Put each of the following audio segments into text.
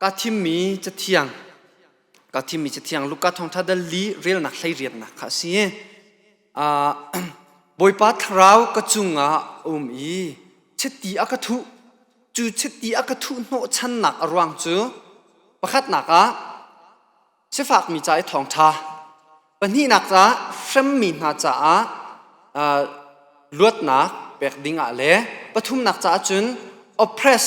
ka thimmi cathiang ka thimmi cathiang Luka thawngṭha dal li relnak hleiriatnak kha a si uh, Bawipa thlarau ka cungah um i chiti a ka thuh cu chiti a ka thuh hnawhchannak a ruang cu pakhatnak ah Sifakmi ca i thawngṭha. Pahnihnak ca hremmi hna caah luatnak pek ding ah le pathumnak caah cun oppress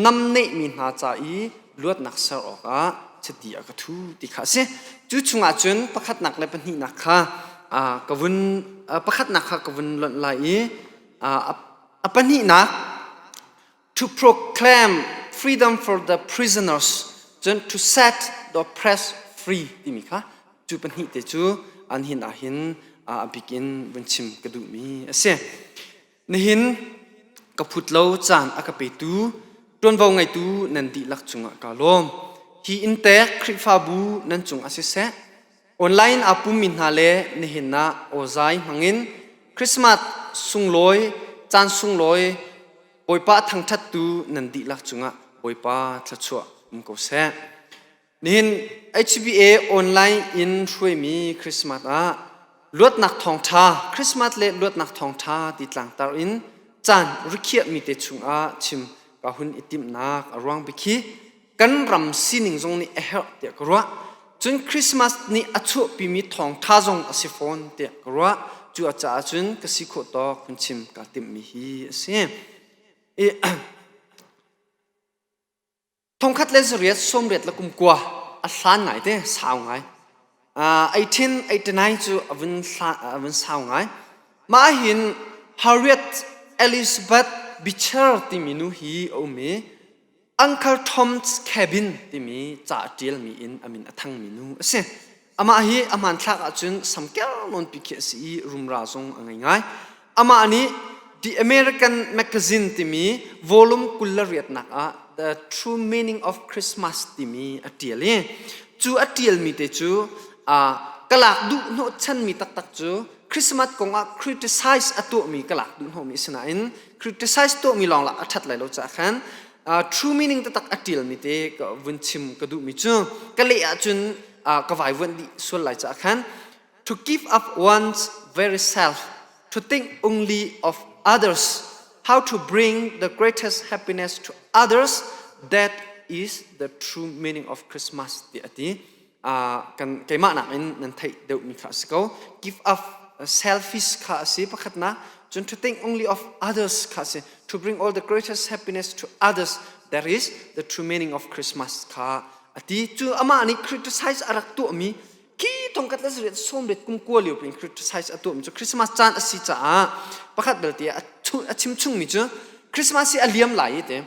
namneihmi hna ca i luatnak ser awkah chiti a ka thu ti kha a si. Cu chungah cun pakhatnak le pahnihnak kha ka vun pakhatnak kha ka vun lonh lai i a pahnihnak to proclaim freedom for the prisoners cun to set the oppressed free timi kha cu pahnih te cu an hin ah hin a bik in vun chim ka duh mi a si nihin ka phut lo caan a ka petu ṭuanvo ngeitu nan dihlak cungah ka lawm hi in tek Khrihfabu nan cung ah siseh Online a pummi hna le nihin ah awzai hmangin Christmas sunglawi, caan sunglawi Bawipa thangṭhattu nan dihlak cungah Bawipa thluachuah um ko seh. Nihin HBA online in hruaimi Christmas ah luatnak thawngṭha Christmas le luatnak thawngṭha ti tlangtar in caan rikhiahmi te chungah chim ka hun i timhnak a ruang bikhi kan ram sining zong nih a herh tiah ka ruah cun Christmas ni a chuahpimi thawngtha zong a si fawn tiah ka ruah cu a caah cun ka si khawh tawk hun chim ka timhmi hi a si i thongkhat le zariat sawmriat la kumkua a hlan ngai te sau ngai eighteen eighty nine cu a vun a vun sau ngai mah hin Harriet Elizabeth Beecher timi nu hi a um i Uncle Tom's Cabin timi ca a ṭialmi in a min a thangmi nu a si. Amah hi a hmanthlak ahcun samkel nawn pi khi a si i rumra zong a ngei ngai. Amah nih The American Magazine timi volume kul le riatnak ah The True Meaning of Christmas timi a ṭial i cu a ṭialmi te cu aa ka lak duh hnawhchanmi taktak cu Christmas kong ah criticize a tuahmi ka lak duh hnawhmi sinain criticize to mi lawng la a that lai lo cha khan true meaning tatak a tial mi te ka vun chim ka du mi chu ka le ah cun ka vai vuan di sual lai cha khan to give up one's very self to think only of others how to bring the greatest happiness to others that is the true meaning of christmas ti ati kan keimah nakin nan theih deuhmi kha a si ko give up selfish kha a si pakhatnak cun to think only of others kha a si to bring all the greatest happiness to others that is the true meaning of Christmas kha a ti cu amah nih criticize a rak tuahmi ki tongkat la zuriat som let kum kua liu pin criticize a tuahmi cu Christmas caan a si caah pakhat belte a chim chungmi cu Christmas hi a liam lai i te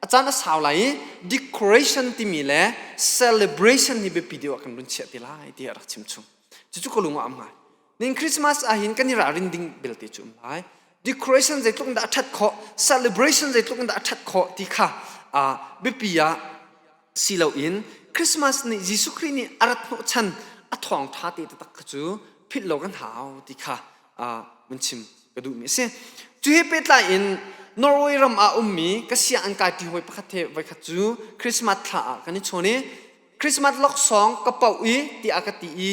a caan a sau lai i decoration timi le celebration hi biapi deuh ah kan run chiah ti lai ti a rak chimchung cucu ka lung a am ngai nin christmas ahhin kan i ralrin ding belte cu um lai decoration zeitluk in dah a ṭhat khawh celebration zeitluk in dah a ṭhat khawh ti kha biapi ah si loin Christmas nih Jesuh Khrih nih a rat hnawhchan a thawngtha te taktak kha cu philh lo kan hau ti kha mun chim ka duhmi a si cu he pehtlai in Norway ram ah ummi ka sianginn kaipi hawi pakhat he voikhat cu Christmas thla ah kan i chawn i Christmas laksawng ka poh i tiah ka ti i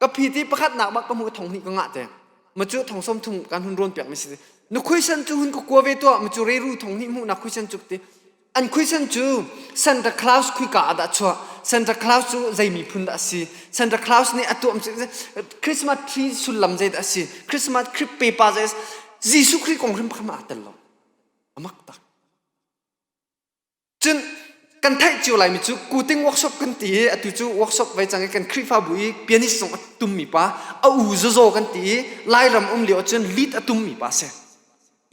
ka phi ti pakhat nak bak ka hmu thong hni ka ngah te ma chu thong som thung kan hun ron piak mi si nu khuisan chu hun ka kua ve to ma chu reiru thong hni mu na khuisan chu ti an khuisan chu Santa Claus khui ka ada chwa Santa Claus chu zai mi phun da si Santa Claus ni atuam chu Christmas tree sullam zai da si Christmas tree pepa zai Jesu Christ kong hrim khama tel lo amak tak Cun kan theih cio laimi cu kuting workshop kan ti i atu cu workshop vai cang i kan Khrihfabu i pianist zong a tummi pa a u zazaw kan ti i Lairam um lio ahcun lead a tummi pa si.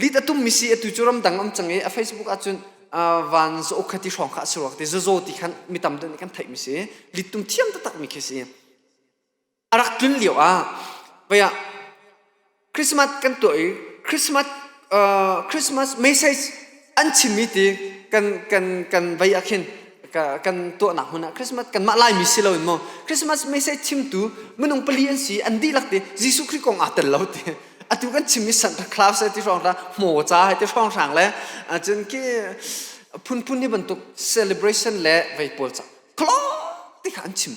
Lead a tummi si atu cu ramdang um cang i a Facebook ahcun uh, van za uk kha ti hrawng kha a si rua ti zazaw ti khan mi tam deuh nih kan theihmi si lead tum thiam taktakmi khi si. a rak tlun lio ah vaya christmas kan tuah i christmas uh, christmas message an chimmi ti kan kan kan vai ah khin kan tuahnak hmun ah christmas kan mah laimi si lo in mo christmas message chimtu minung pali an si an dihlak ti jesu khrist kong aa tel lo ti atu kan chimmi santa claus ti hrong ra hmo ca hai ti hrong hrang le cun ki phunphun ni bantuk celebration le vai pawl ca klo ti kha an chim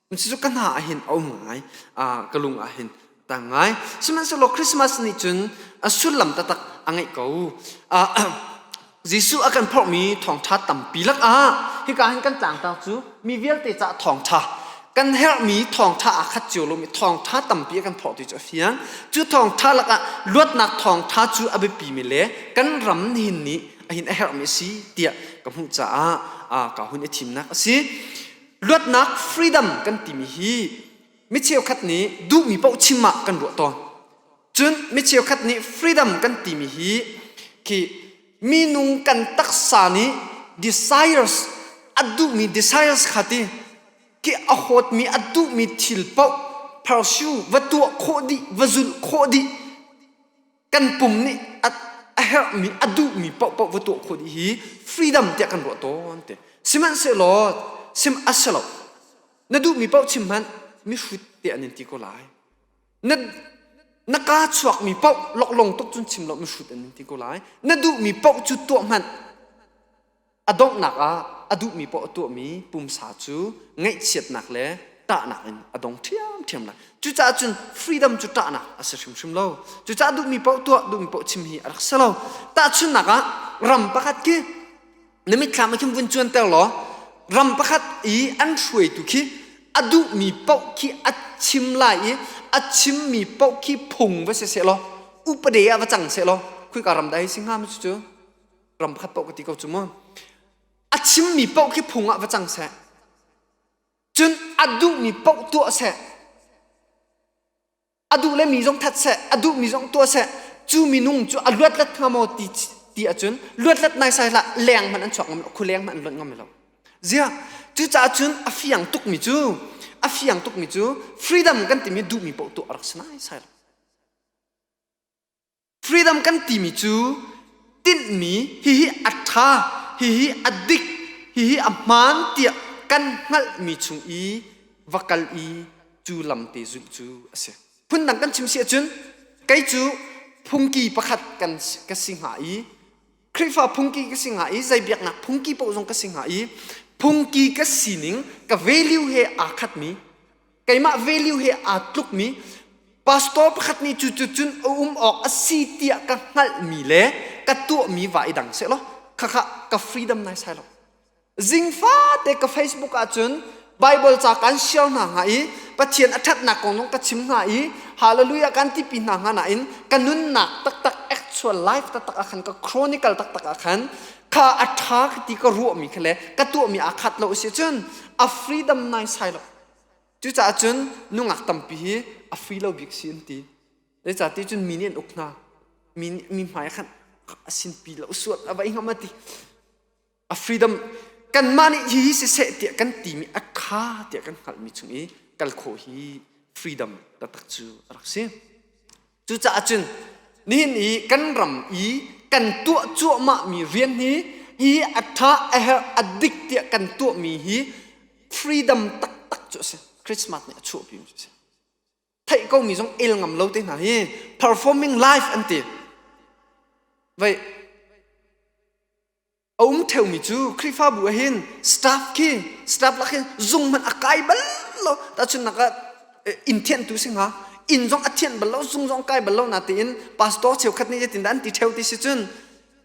Cucu ka hna ah hin a um ngai. Ah, ka lung ah hin a tang ngai. Sihmanhsehlaw Christmas nih cun a sullam taktak a ngeih ko. Ah, Jesuh a kan phorhmi thawngṭha tampi lakah hika hin kan tlangtar cu mi vialte caah thawngṭha kan herhmi thawngṭha aa khat cio lomi thawngṭha tampi a kan phorh ti cu a fiang. Cu thawngṭha lakah luatnak thawngṭha cu a biapimi le kan ram nihin nih a hin a herhmi a si tiah ka hmuh caah ah, ka hun i thimnak a si. luatnak freedom kan timi hi mi cheukhat nih duhmi paoh chim ah kan ruah tawn cun mi cheukhat nih freedom kan timi hi khi minung kan taksa nih desires a duhmi desires khati ki a hawtmi a duhmi thil paoh pursuit va tuah khawh dih va zulh khawh dih kan pum nih a, a herhmi a duhmi paohpaoh va tuah khawh dih hi freedom tiah kan ruah tawn te sihmanhsehlaw sim a si lo na duhmi paoh chim hmanh mihrut te an in ti ko lai na na ka chuakmi paoh loklong tuk cun chim lo mihrut an in ti ko lai na duhmi paoh cu tuah hmanh a donghnak ah a duhmi paoh a tuahmi pumsa cu ngaihchiatnak le ṭahnak in a dong ṭhiamṭhiam lai. Cucaah cun freedom cu ṭahnak a si hrimhrim lo. Cucaah duhmi paoh tuah, duhmi paoh chim hi a rak si lo. Tahchunhnak ah, ram pakhat khi na mitthlam ah khin vun cuanter law ram pakhat i an hruaitu khi a duhmi paoh khi a chim lai i a chimmi paoh khi phung va si seh law upade ah va cang seh law khika ram dah hi si hnga mu cucu? ram khat paoh ka ti ko cu mu a chimmi paoh khi phung ah va cang seh cun a duhmi paoh tuah seh a duh le mi zong that seh a duhmi zong tuah seh cu minung cu a luatlet hnga maw ti ti ahcun luatlet nai sai la leng hmanh an chuak ngam lo khu leng hmanh an luat ngam lo zia cucaah cun a fiang tukmi cu a fiang tukmi cu freedom kan timi duhmi paoh tuah rak si nai sai lo Freedom kan timi cu tinhmi hihi a ṭha, hihi a dik, hihi a hmaan tiah kan hngalhmi chung i va kal i cu lam te zulh cu a si. Phundang kan chim si ahcun kei cu phungki pakhat kan ka si hnga i Khrihfa phungki ka si hnga i zei biaknak phungki paoh zong ka si hnga i phungki ka sining ka value he aa khatmi keimah value he aa tlukmi pastor pakhat nih cu cun um awk a si tiah ka hngalhmi le ka tuahmi va i dang seh law khakha ka freedom nai sai lo zingfate ka facebook ahcun bible ca kan share hna hnga i pathian a ṭhatnak kong zong ka chim hna i hallelujah kan tipi hna hnga nain ka nunnak taktak actual life taktak ah khan ka chronicle taktak ah khan kha a ṭha ti ka ruahmi kha le ka tuahmi aa khat lo si cun a freedom nai sai lo Cucaah cun nungak tampi hi a free lo bik si an ti. Zeicah ti cun mi nih an uk hna. Mi nih mi hmai khan a sinpi lo suat a vai ngam a ti. A freedom kanmah nih hi hi siseh tiah kan timi a kha tiah kan hngalhmi chung i kal khawh hi freedom taktak cu a rak si. Cucaah cun nihin i kan ram i kan tuah cuahmah mi rian hi i a ṭha a herh a dik tiah kan tuah mi hi freedom taktak cu a si Christmas nih a chuahpi mi a si theih ko mi zong el ngam lo te hna hi performing life an ti vei a um ṭheumi cu Khrihfabu ah hin staff khi staff lak hin zung hmanh a kai bal lo tahchunhnak ah inn thianhtu si hnga inn zong a thianh bal lo zung zong kai bal lo natein pastor cheukhat nih yetindah an ti ṭheo ti si cun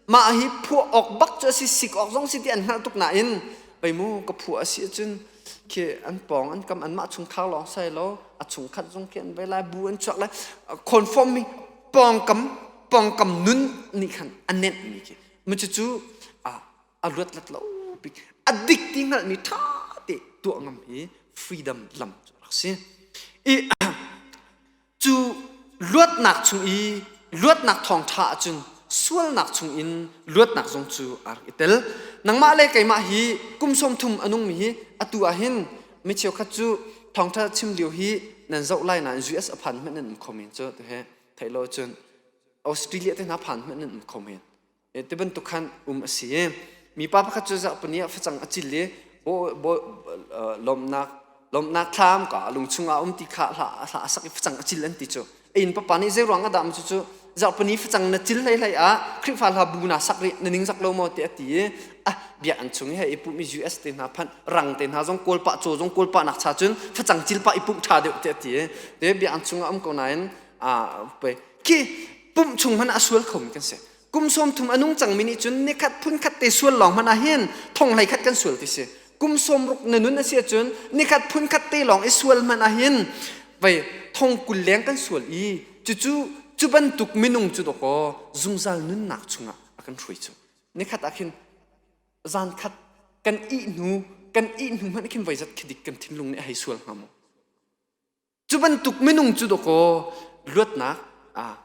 mah hi phuah awk bak cu a si sik awk zong si ti an hngalh tuk nain pei mu ka phuah a si cun khi an pawng an kam anmah chung thar lawng sai lo a chung khat zong khi an vai lai bu an chuak lai conform mi pawngkam pawngkam nun nih khan a nenh mi khi Macucu a luat lat lo pi a dik ti hngalhmi ṭha te tuah ngam i freedom lam cu rak si. I cu luatnak chung i luatnak thawngṭha ahcun sualnak chungin luatnak zong cu a rak i tel. Nangmah le keimah hi kum sawm thum a nungmi hi atu ah hin mi cheukhat cu thawngṭha chim lio hi nan zoh lai nain US a phan hmanh nan um kho men cu, tuhe. Theih lo cun Australia te hna phan hman nan kho men te bantuk khan um a si mi pa pakhat cu zarhpini ah facang a cil i lawmnak lawmnak thlam ka lung chungah um ti kha hla hla a sak i facang a cil an ti cu a in papa nih zei ruang a dam cu cu zarhpini facang na cil hlei hlei ah Khrihfa hla bu na sak rih na ning zak lo maw te a ti i a bia an chung i he i pum i US te hna phan rang te hna zong kawl pa caw zong kawl pa nak cha cun facang cil pa i puk tha deuh te a ti te bia an chungah um ko nain a khi pumh chung hmanh ah sual khomi kan si kum sawm thum a nung cangmi nih cun nikhat phun khat te sual lawng hmanh ah hin thong hlei khat kan sual ti si kum sawm ruk na nun a si ahcun nikhat phun khat te lawng i sual hmanh ah hin vei thong kul leng kan sual i cucu cu bantuk minung cu dawkaw zungzal nunnak chungah a kan hruai cu nikhat ah khin zan khat kan ih hnu kan ih hnu hmanh khin voizat khidik kan thinlung nih a hei sual hnga maw Cu bantuk minung cu dawkaw luatnak ah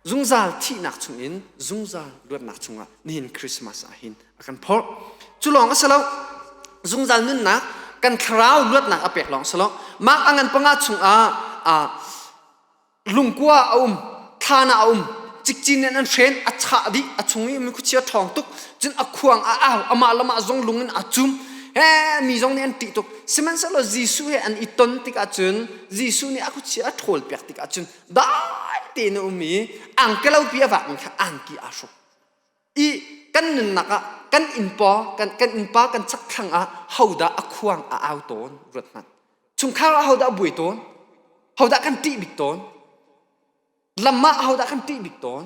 zungzal thihnak chungin zungzal luatnak chungah nihin Christmas ah hin a kan phorh cu lawng a si lo zungzal nunnak kan thlarau luatnak a pek lawng si lo mah a ngan panga chungah ah lungkua a um thlan ah a um cikcin in an hren a chah dih a chung i mi khuachia ṭhawng tuk cun a khuang a au amah lam ah zong lung in a cum he mi zong nih an ṭih tuk sihmanhsehlaw Jesuh he an i ton tikah cun Jesuh nih a khuachia a ṭhawl piak tikah cun dai tein a um i angkelopi a vak mi kha angki aa hruk i kan nunnak ah kan innpa kan kan innpa kan chakthlang ah hodah a khuang a au tawn ruat hmanh chungkhar ah hodah buai tawn hodah kan ṭih bik tawn lam ah hodah kan ṭih bik tawn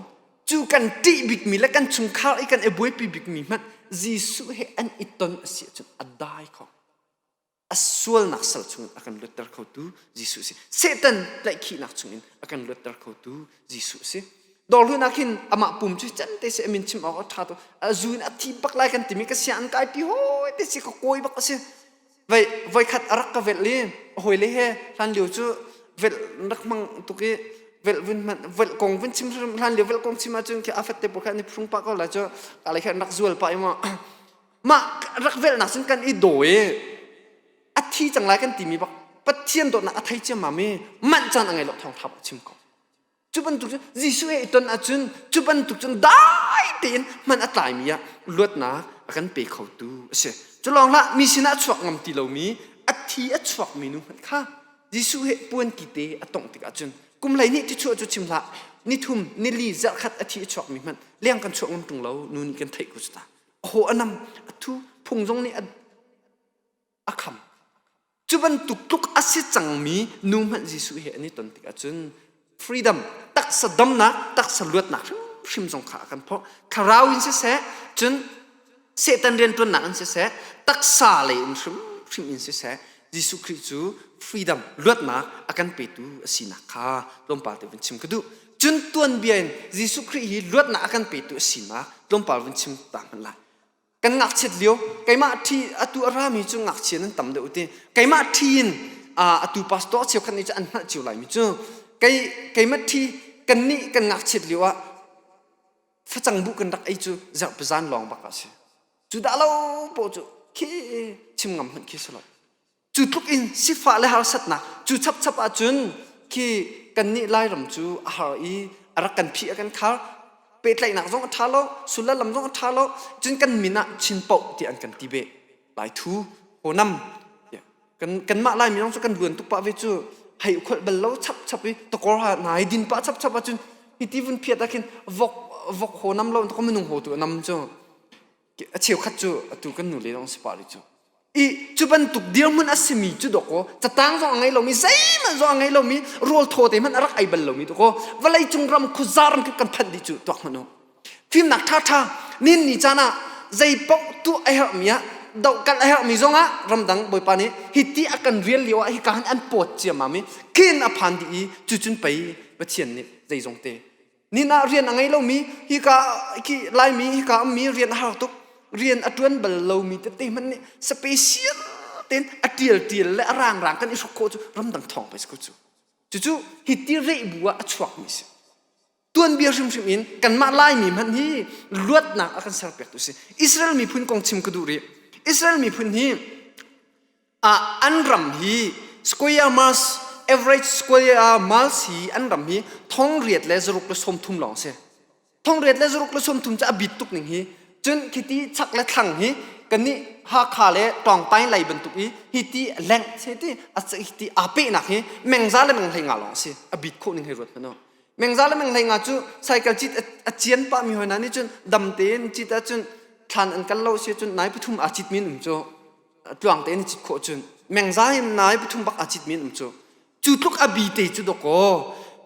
cu kan ṭih bikmi le kan chungkhar i kan i buaipi bikmi hmanh Jesuh he an i ton a si ahcun a dai kho a sualnak sal chungin a kan luatter khotu Jesuh si Satan tlaihkhihnak chungin a kan luatter khotu Jesuh si dorhlunak hin amah pum cu can te se amin chim awk a ṭha to a zu in a thi bak lai kan timi ka sia an kai pi hoi te si ka kawi bak a si voi voi khat a rak ka velh i a hawi le he hlan lio cu velh rak mang tuk i velh vun man velh kong vun chim hlan lio velh kong chim ahcun khi afat te po khan ni phung pa ko la cu kalai khan rak zual pa i ma mah rak velhnak sin kan i daw i a thi cang lai kan timi bak Pathian dawtnak a thei ciammam i manh caan a ngei lo thawngtha a chim ko cu bantuk cun Jesuh he i ton ahcun cu bantuk cun dai tein man a tlaimi ah luatnak a kan pe khotu a si cu lawng hlah mi sinah chuak ngam ti lomi a thi a chuak mi nu hmanh kha Jesuh he puanki te a tongh tik ahcun kum hlei nih ti chuah cu chim hlah nithum nili zarhkhat a thi a chuak mi hmanh leng kan chuak ngam ṭung lo nu nih kan theih ko cu ta aw anam athu phung zong nih a kham cu bantuk tluk asi cangmi nu hmanh Jesuh he an i ton tik ahcun freedom taksa damnak taksa luatnak hrimhrim zong kha a kan phawh thlarau in siseh cun setan riantuannak in siseh taksa lei in hrimhrim in siseh Jesuh Khrih cu freedom luatnak a kan petu a sinak kha tlawmpal te vun chim ka duh cun tuanbia in Jesuh Khrih hi luatnak a kan petu a si ma tlawmpal vun chim ta hmanh la kan ngakchiat lio keimah ṭhi atu a rami cu ngakchia nan tam deuh ti keimah ṭhi in atu pastor cheu khat nih cu an hngalh cio lai mi cu kei keimah ṭhi kan nih kan ngakchiat lio ah facang bu kan rak ei cu zarh pazan lawng bak a si cu dah lo paw cu khi chim ngam hmanh khi si lo cu tluk in sifah le harsatnak cu chapchap ahcun khi kannih lairam cu a har i a rak kan phi a kan khar pehtlaihnak zong a ṭha lo sullam lam zong a ṭha lo cun kan min ah chin poh ti an kan ti be lai thu honam kan kanmah lai mi zong cu kan luan tuk pah ve cu hei ukholh bal lo chap chap i tokor ha nai din pa chap chap ahcun hiti vun phiat ah khin vok vok honam lo tokor minung ho tu nam cu a cheukhat cu atu kan nule lawng si pah rih cu i cu bantuk dirhmun a simi cu dawkaw catang zong a ngei lomi zeihmanh zong a ngei lomi rawl thaw te hmanh a rak ei bal lomi dawkaw vawlei cung ram khuzar kan kan phanh dih cu tuak hmanh u fimnak ṭha ṭha nin ni caan ah zei paoh tu a herhmi ah do kan a herhmi zongah ramdang bawipa nih hiti a kan rial lio ah hika han an pawt ciammam i khin a phan dih i cucun pei pathian nih zeizong te Nin ah rian a ngei lomi hika khi laimi hika ummi rian a har tuk. Rian a ṭuan bal lomi tete hmanh nih special tein a ṭial ṭial le a rang rang kan i hrok khawh cu ramdang thawng pei cu. Cucu hi ti rei bu ah a chuakmi si. Tuanbia hrimhrim in kanmah Laimi hmanh hi luatnak a kan serpiaktu si. Israel miphun kong chim ka duh rih. Israel miphun hi ah an ram hi square miles average square miles hi an ram hi thong riat le zaruk le som thum lawng si thong riat le zaruk le som thum cu a bit tuk ning hi cun khiti chak le thlang hi kani hakha le tawngtai lei bantuk i hi ti lengh se ti ti a pe nak hi mengza le menghlei nga lawng si a bit kho ning hei ruat hmano mengza le menghlei nga cu cycle cit a cian pa mi hoi na ni cun dam tein cit a cun thlan an kal lo si cun nai pathum a cit min um cho tluang tein a cit khawh cun mengza in nai pathum bak aa citmi um cu cu tluk a bi te cu dakaw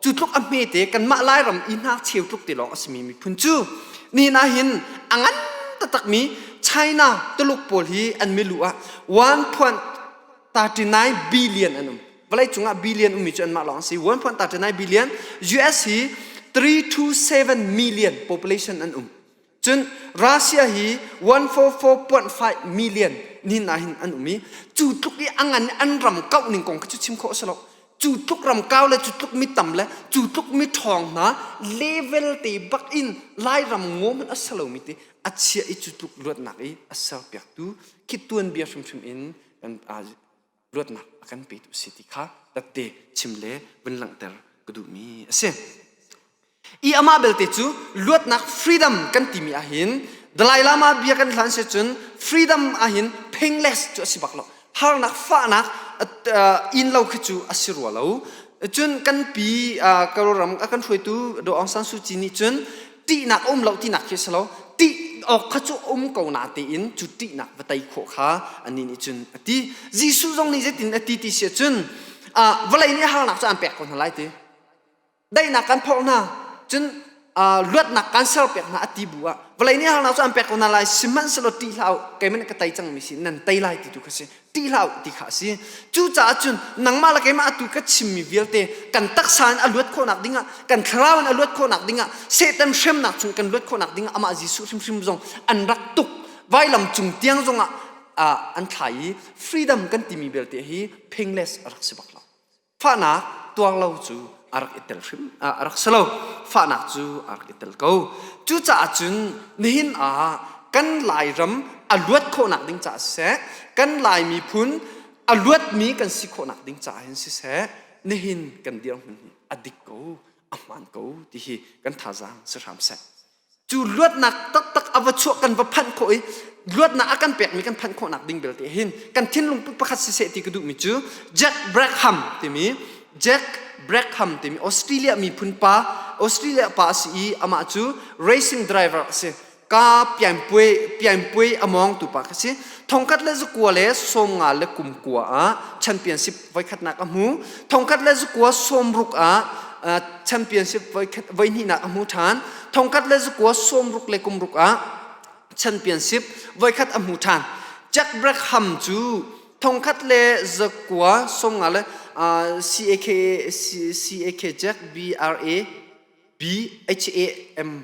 cu tluk a hme te kanmah lairam i hna cheu tluk te lawng a simi miphun cu ni na hin a ngan takmi China Tuluk pawl hi an milu ah 1.39 billion an um vawlei cungah billion ummi cu anmah lawng a si 1.39 billion US hi 327 million population an um Cun Russia hi 144.5 million nin ah hin an um i cu tluk i a ngan an ram kauh ning kong khi cu chim khawh a si lo. Cu tluk ram kau le cu tluk mi tam le cu tluk mi ṭhawng hna level te bak in Lairam ngom a si lomi te a chia i cu tluk luatnak i a serpiaktu khi tuanbia hrimhrim in kan luatnak a kan pe tu si ti kha takte chim le vun langhter ka duhmi a si i amah belte cu luatnak freedom kan timi ahhin Dalai Lama bia kan hlan se cun freedom ahhin painless cu a si bak lo harnak fahnak in lo khi cu a si rua lo cun kan pi karo ram a kan hruaitu Do Aung San Suu Kyi nih cun ṭihnak a um lo tinak khi a si lo ṭih awk kha cu um ko na tein cu ṭihnak va tei khawh kha anih nih cun a ti Jesuh zong nih zeitin a ti ti si cun ah vawlei nih harnak cu aan pek ko hna lai ti daihnak kan phorh hna cun luatnak kan ser pek hna a ti bu ah vawlei nih harnak cu aan pek ko hna lai sihmanhsehlaw ṭih hlah u keiman ka tei cangmi sin nan tei lai ti tu kha si ti hlah ti kha a si cucaah cun nangmah le keimah tu ka chimmi vialte kan taksa in a luat khawhnak dingah kan thlarau in a luat khawhnak dingah satan hremnak chung kan luat khawhnak dingah amah jesuh hrimhrim zong an rak tuk vailam cung tiang zongah an thlai i freedom kan timi belte hi pingles a rak si bak lo fahnak tuang lo cu a rak i tel hrim a rak si lo fahnak cu a rak i tel ko cucaah cun nihin ah kan lairam a luat khawhnak ding caah siseh kan lai miphun a luatmi kan si khawhnak ding caah hin siseh nihin kan dirhmun a dik ko a hmaan ko ti hi kan thazaang si hram seh cu luatnak taktak a va chuah kan va phanh khawh i luatnak a kan pekmi kan phanh khawhnak ding belte hin kan thinlung pakhat siseh ti ka duhmi cu Jack Brackham timi Jack Brackham timi Australia miphun pa Australia pa a si i amah cu racing driver a si ka pianpuai pianpuai a mawngtu pa ka si thongkhat le zakua le sawmnga le kumkua ah championship voikhatnak a hmu thongkhat le zukua sawmruk ah championship voikhat voihnihnak a hmu ṭhan thongkhat le zukua sawmruk le kumruk ah championship voikhat a hmu ṭhan Jack Brackham cu thongkhat le zakua somnga le CAK CAK Jack B R A B H A M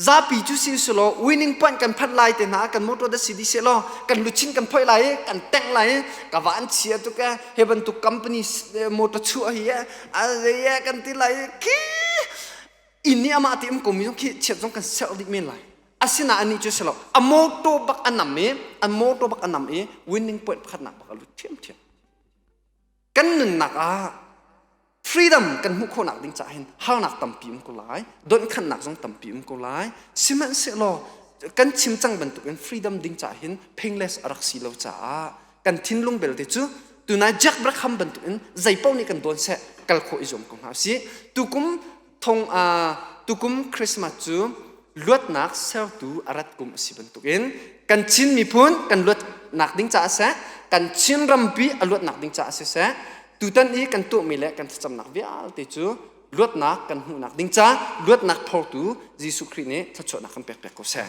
zapi cu si selaw winning point kan phanh lai te hna kan motor da si di se law kan luchin kan phoi lai i kan tengh lai i ka van chia tu ke he bantuk company motor chu hi a ze kan ti lai ki in ni ama ti um komi zong khi chiat zong kan ser dih men lai asina ani cu selaw a motor bak anam i a motor bak anam i winning point pakhat nak bak a lut thiam thiam kan nunnak ah freedom kan hmuh khawhnak ding caah hin harnak tampi um ko lai donkhannak zong tampi um ko lai sihmanhsehlaw kan chim cang bantukin freedom ding caah hin pingles a rak si lo caah kan thinlung belte cu tunai Jack Brackham bantukin zeipaoh nih kan dawn seh kal khawh i zuam ko hna sih tukum thong a tukum Christmas cu luatnak sertu a rat kum a si bantukin kan Chin miphun kan luatnak ding caah seh kan Chin rampi a luatnak ding caah si seh tutan i kan tuahmi le kan thlacamnak vialte cu luatnak kan hmuhnak ding caah luatnak phortu Jesuh Khrih nih thluachuahnak kan pekpek ko seh.